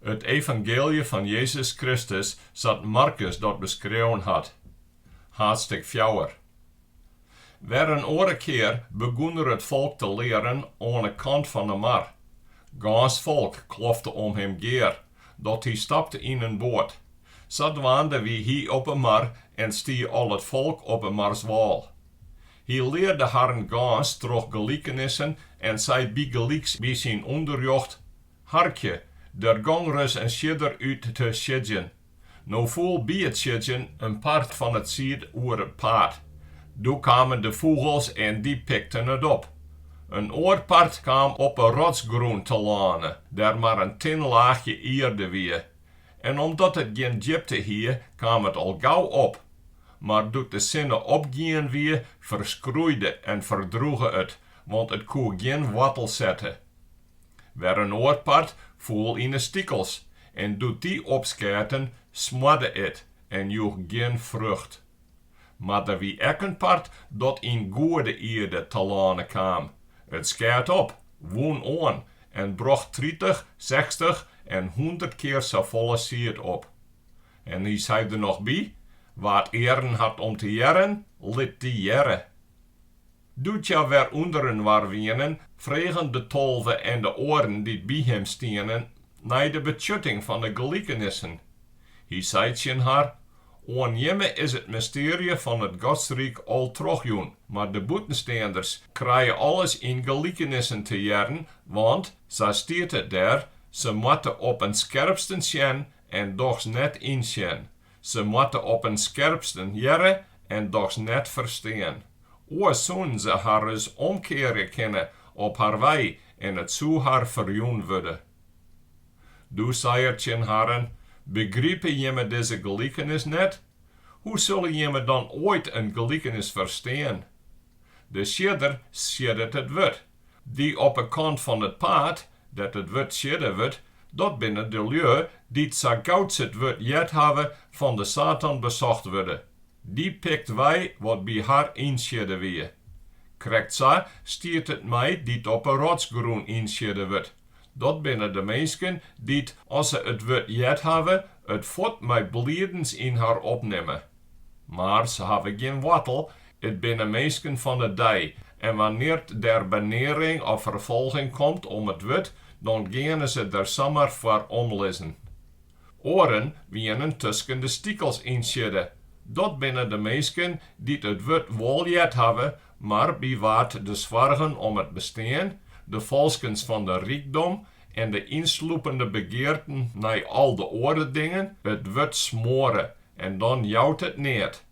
It evangeelje fan Jezus Kristus sa't Markus dat beskreaun hat, haadstik fjouwer. Wer in oare kear begûn er it folk te learen oan 'e kant fan 'e mar. Gâns folk klofte om him gear, dat hy stapte yn in boat. Sadwaande wie hy op 'e mar en stie al it folk op 'e marswâl. Hy learde harren gâns troch gelikenissen en sei bygelyks by syn ûnderrjocht, Harkje, der gong ris in siedder út te siedzjen. No foel by it siedzjen in part fan it sied oer it paad. Doe kamen de fûgels en dy pikten it op. In oar part kaam op 'e rotsgrûn telâne, dêr't mar in tin laachje ierde wie. En omdat it gjin djipte hie, kaam it al gau op. Mar doe't de sinne opgien wie, ferskroeide en ferdroege it, want it koe gjin woartel sette. Wer in oar part foel yn 'e stikels en doe't dy opskeaten, smoarde it en joech gjin frucht. Mar der wie ek in part dat yn goede ierde telâne kaam. It skeat op, wûn oan en brocht tritich, sechstich en hûndert kear safolle sied op. En hy sei der noch by, Wa't earen hat om te hearren, lit dy hearre. Doe't hja wer ûnderinoar wienen, fregen de tolve en de oaren dy't by him stienen nei de betsjutting fan de gelikenissen. Hy sei tsjin har, Oan jimme is it mystearje fan it Godsryk al trochjûn, mar de bûtensteanders krije alles yn gelikenissen te hearren, want, sa stiet it dêr, se moatte op 'en skerpsten sjen en dochs net ynsjen. Se moatte op 'en skerpsten hearre en dochs net ferstean. Oars soenen se har ris omkearje kinne op har wei en it soe har ferjûn wurde. Doe sei er tsjin harren, Begripe jimme dizze gelikenis net? Hoe sulle jimme dan oait in gelikenis ferstean? De siedder sieddet it wurd. Dy op 'e kant fan it paad, dêr't it wurd siedde wurdt, dat binne de lju dy't sa gau't se it wurd heard hawwe fan de Satan besocht wurde. Dy pikt wei wat by har ynsiedde wie. Krekt sa stiet it mei dy't op 'e rotsgrûn ynsiedde wurdt, dat binne de minsken dy't, as se it wurd heard hawwe, it fuort mei bliedens yn har opnimme. Mar se hawwe gjin woartel, it binne minsken fan de dei, en wannear't der benearing of ferfolging komt om it wurd, dan geane se der samar foar omlizzen. Oaren wienen tusken de stikels ynsiedde, dat binne de minsken dy't it wurd wol heard hawwe, mar by wa't de soargen om it bestean, de falskens fan de rykdom en de ynsloepende begearten nei al de oare dingen it wurd smoare en dan jout it neat.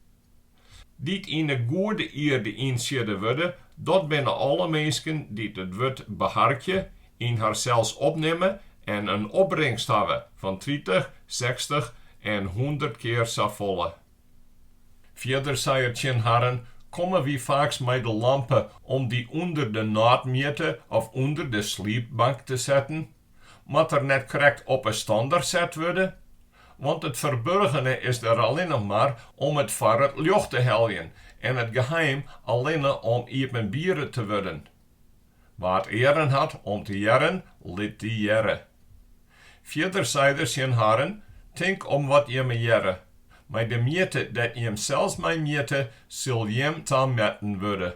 Dy't yn 'e goede ierde ynsiedde wurde, dat binne alle minsken dy't it wurd beharkje, yn harsels opnimme en in opbringst hawwe fan tritich, sechstich en hûndert kear safolle. Fierder sei er tsjin harren, Komme wy faaks mei de lampe om dy ûnder de nôtmjitte of ûnder de sliepbank te setten? moat er net krekt op 'e stander set wurde, want it ferburgene is der allinne mar om it foar it ljocht te heljen en it geheim allinne om iepenbiere te wurden. Wa't earen hat om te hearren, lit dy hearre. Fierder sei er tsjin harren, Tink om wat jimme hearre. Mei de mjitte dêr't jim sels mei mjitte, sil jim tametten wurde.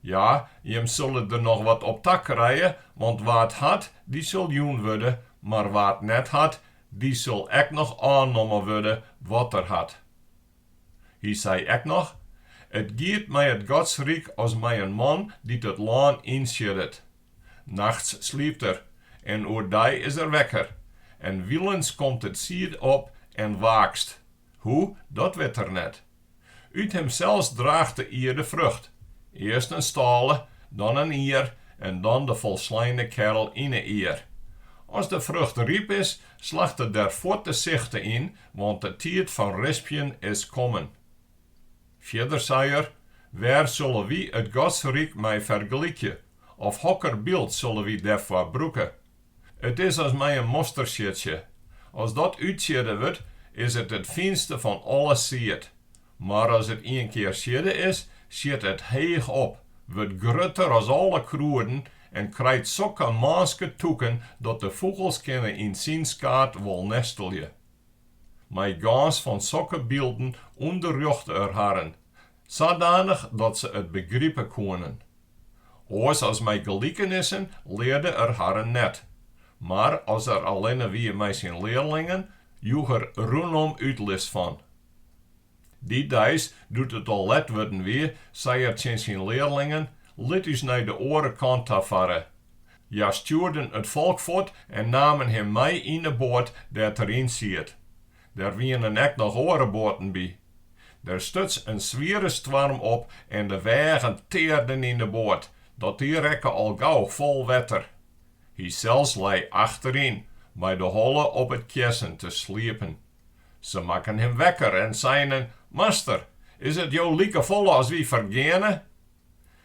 Ja, jimme sille der noch wat op ta krije, want wa't hat, dy sil jûn wurde, mar wa't net hat, dy sil ek noch ôfnommen wurde wat er hat. Hy sei ek noch, It giet mei it Godsryk as mei in man dy't it lân ynsieddet. Nachts sliept er, en oerdei is er wekker, en wylens komt it sied op en waakst, hoe, dat wit er net. Ut himsels draacht de ierde frucht, earst in stâle, dan in ier en dan de folsleine kerl yn 'e ier. As de frucht ryp is, slacht er der fuort de sichte yn, want de tiid fan rispjen is kommen. Fierder sei er, Wêr sille wy it Godsryk mei fergelykje, of hokker byld sille wy dêrfoar brûke? It is as mei in mostersiedsje. As dat útsiedde wurdt, is it it fynste fan alle sied. Mar as it ienkear siedde is, sjit it heech op, wurdt grutter as alle krûden en krijt sokke mânske tûken dat de fûgels kinne yn syn skaad wol nestelje. mei gâns fan sokke bylden ûnderrjochte er harren, sadanich dat se it begripe koenen. Oars as mei gelikenissen learde er harren net, mar as er allinne wie mei syn learlingen, joech er rûnom útlis fan. Dy deis, doe't it al let wurden wie, sei er tsjin syn learlingen, Lit ús nei de oare kant ta farre. Hja stjoerden it folk fuort en namen him mei yn 'e boat dêr't er yn siet. Der wienen ek noch oare boaten by. Der stuts in swiere stoarm op en de wêgen tearden yn 'e boat, dat dy rekke al gau fol wetter. Hysels lei achteryn, mei de holle op it kjessen te sliepen. Se makken him wekker en seinen, Master, is it jo likefolle as wy fergeane?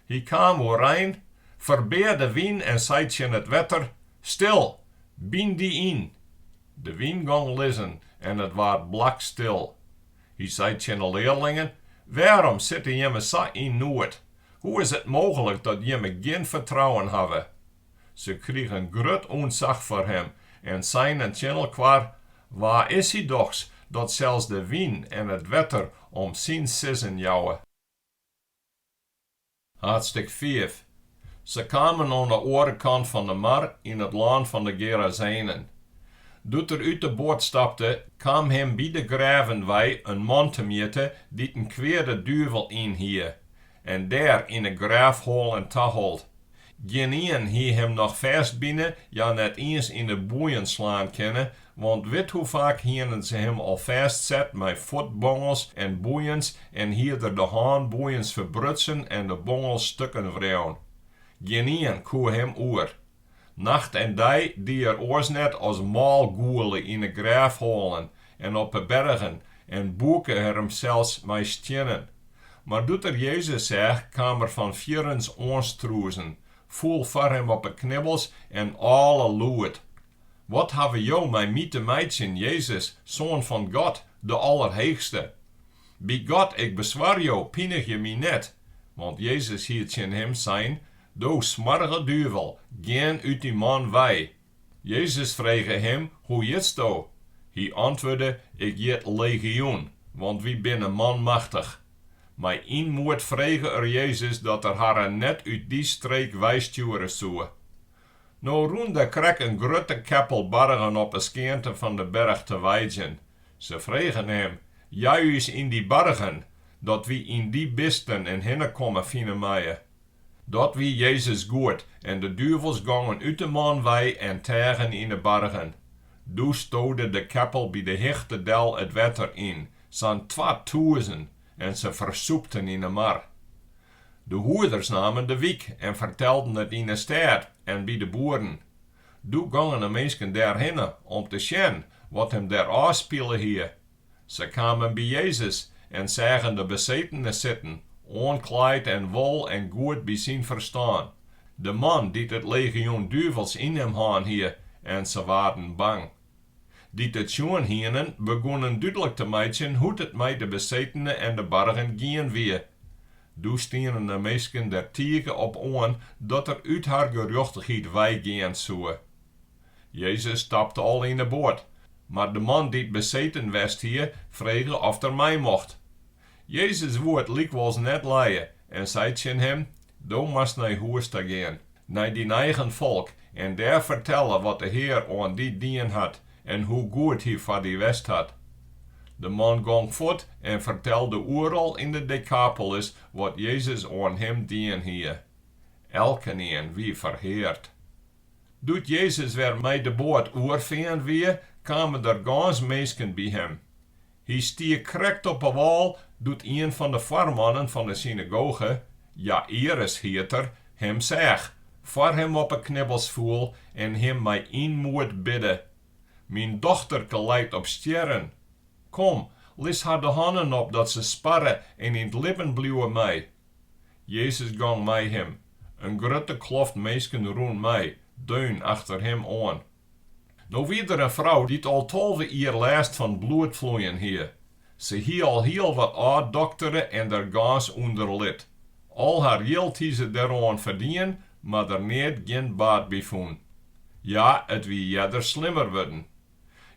Hy kaam oerein, ferbear de wyn en sei tsjin it wetter, Stil! Byn dy yn! De wyn gong lizzen en it waard blakstil. Hy sei tsjin de learlingen, Wêrom sitte jimme sa yn noed? Hoe is it mooglik dat jimme gjin fertrouwen hawwe? Se krigen grut ûntsach foar him en seinen tsjin elkoar, Wa is hy dochs, dat sels de wyn en it wetter om syn sizzen jouwe? Haadstik fiif. Se kamen oan de oare kant fan de mar yn it lân fan de Gerazenen. Doe't er út de boat stapte, kaam him by de grêven wei in man temjitte dy't in kweade duvel yn hie. En dêr yn 'e grêfhoalen tahold. Gjinien hie him noch fêstbine, ja net iens yn 'e boeien slaan kinne, want wit hoe faak hienen se him al fêstset mei fuotbongels en boeiens en hie er de hânboeiens ferbrutsen en de bongels stukken wreaun. Gjinien koe him oer. Nacht en dei die er oars net as mâl gûle yn 'e grêfhoalen en op 'e bergen en bûke er himsels mei stiennen. Mar doe't er Jezus seach, kaam er fan fierrens oanstrûzen, foel foar him op 'e knibbels en âle lûd, Wat hawwe jo mei my te meitsjen, Jezus, Soan fan God, de Allerheechste? By God, ik beswar jo, pinigje my net! Want Jezus hie tsjin him sein, Do smoarge duvel, gean út dy man wei! Jezus frege him, Hoe hjitsto? Hy antwurde, Ik hjit Legioen, want wy binne manmachtich. Mei ynmoed frege er Jezus dat er harren net út dy streek weistjoere soe. No rûn der krek in grutte keppel bargen op 'e skeante fan de berch te weidjen. Se fregen him, Jei ús yn dy bargen, dat wy yn dy bisten in hinnekommen fine meie. Dat wie Jezus goed, en de duvels gongen út de man wei en teagen yn 'e bargen. Doe stode de keppel by de hichte del it wetter yn, sa'n twatûzen, en se fersûpten yn 'e mar. De hoeders namen de wyk en fertelden it yn 'e stêd en by de boeren. Doe gongen de minsken dêrhinne om te sjen wat him dêr ôfspile hie. Se kamen by Jezus en seagen de besetene sitten, oanklaaid en wol en goed by syn ferstân, de man dy't it legioen duvels yn him hân hie, en se waarden bang. Dy't it sjoen hienen, begûnen dúdlik te meitsjen hoe't it mei de besetene en de bargen gien wie. Doe stienen de minsken der tige op oan dat er út har gerjochtichheid weigean soe. Jezus stapte al yn 'e boat, mar de man dy't beseten west hie, frege oft er mei mocht. Jezus woe it lykwols net lije en sei tsjin him, Do moatst nei hûs ta gean, nei dyn eigen folk, en dêr fertelle wat de Hear oan dy dien hat en hoe goed Hy foar dy west hat. De man gong fuort en fertelde oeral yn de Dekapolis wat Jezus oan him dien hie. Elkenien wie ferheard. Doe't Jezus wer mei de boat oerfearn wie, kamen der gâns minsken by him. Hy stie krekt op 'e wâl doe't ien fan de foarmannen fan 'e synagoge, Jaïrus hiet er, him seach, foar him op 'e knibbels foel en him mei ynmoed bidde, Myn dochterke leit op stjerren. Kom, lis har de hannen op dat se sparre en yn 't libben bliuwe mei. Jezus gong mei him, in grutte kloft minsken rûn mei, deun achter him oan. No wie der in frou dy't al tolve jier lêst fan bloedfloeien hie. Se hie al hiel wat ôfdoktere en der gâns ûnder lit. Al har jild hie se deroan ferdien, mar der neat gjin baat by fûn. Ja, it wie earder slimmer wurden.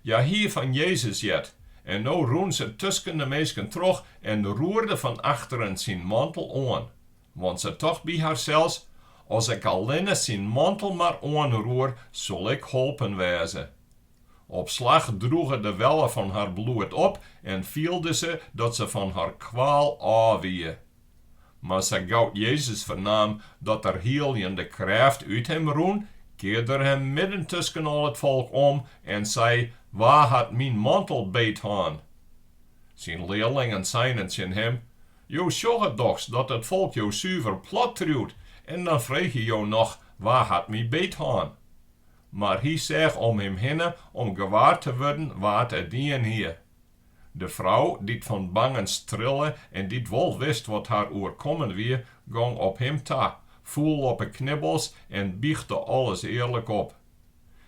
Hja hie fan Jezus heard, en no rûn se tusken de minsken troch en roerde fan achteren syn mantel oan. Want se tocht by harsels, As ik allinne syn mantel mar oanroer, sil ik holpen wêze. Op slach droege de welle fan har bloed op en fielde se dat se fan har kwaal ôf wie. Mar sa gau Jezus fernaam dat der hielende krêft út him rûn, kearde er him midden tusken al it folk om en sei, Wa hat myn mantel beet hân? Syn learlingen seinen tsjin him, Jo sjogge dochs dat it folk jo suver plat triuwt en dan freegje jo noch, Wa hat my beet hân? Mar hy seach om him hinne om gewaar te wurden wa't it dien hie. De frou, dy't fan bangens trille en dy't wol wist wat har oerkommen wie, gong op him ta, foel op 'e knibbels en bychte alles earlik op.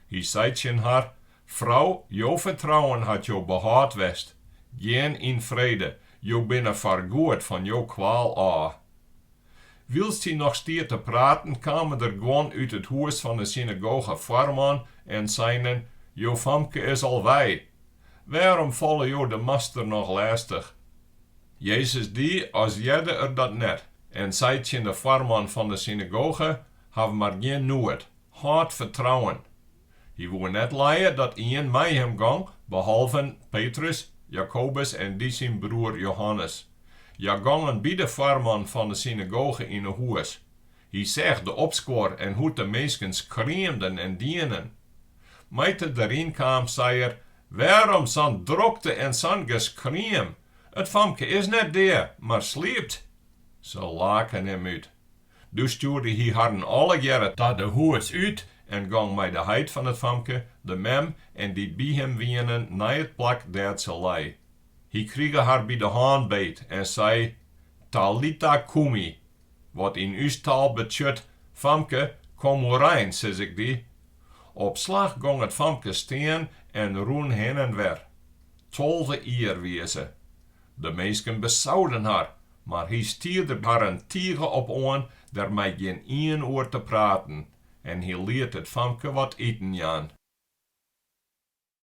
Hy sei tsjin har, Frou, jo fertrouwen hat jo behâld west. Gean yn frede, jo binne foargoed fan jo kwaal ôf. Wylst hy noch stie te praten, kamen der guon út it hûs fan 'e synagogefoarman en seinen, Jo famke is al wei, Wêrom falle jo de Master noch lêstich? Jezus die as hearde er dat net en sei tsjin de foarman fan de synagoge, Haw mar gjin noed, hâld fertrouwen. Hy woe net lije dat ien mei him gong, behalven Petrus, Jakobus en dy syn broer Johannes. Hja gongen by de foarman fan de synagoge yn 'e hûs. Hy seach de opskuor en hoe't de minsken skreamden en dienen. Mei't er deryn kaam, sei er, Wêrom sa'n drokte en sa'n geskriem? It famke is net dea, mar sliept. Se laken him út. Doe stjoerde hy harren allegearre ta de hûs út en gong mei de heit fan it famke, de mem en dy't by him wienen nei it plak dêr't se lei. Hy krige har by de hân beet en sei, Talita kumi, Wat yn ús taal betsjut, Famke, kom oerein, sis ik dy. Op slach gong it famke stean en rûn hin en wer. Tolve jier wie se. De minsken besauden har, mar hy stie der harren tige op oan der mei gjin ien oer te praten en hy liet it famke wat iten jaan.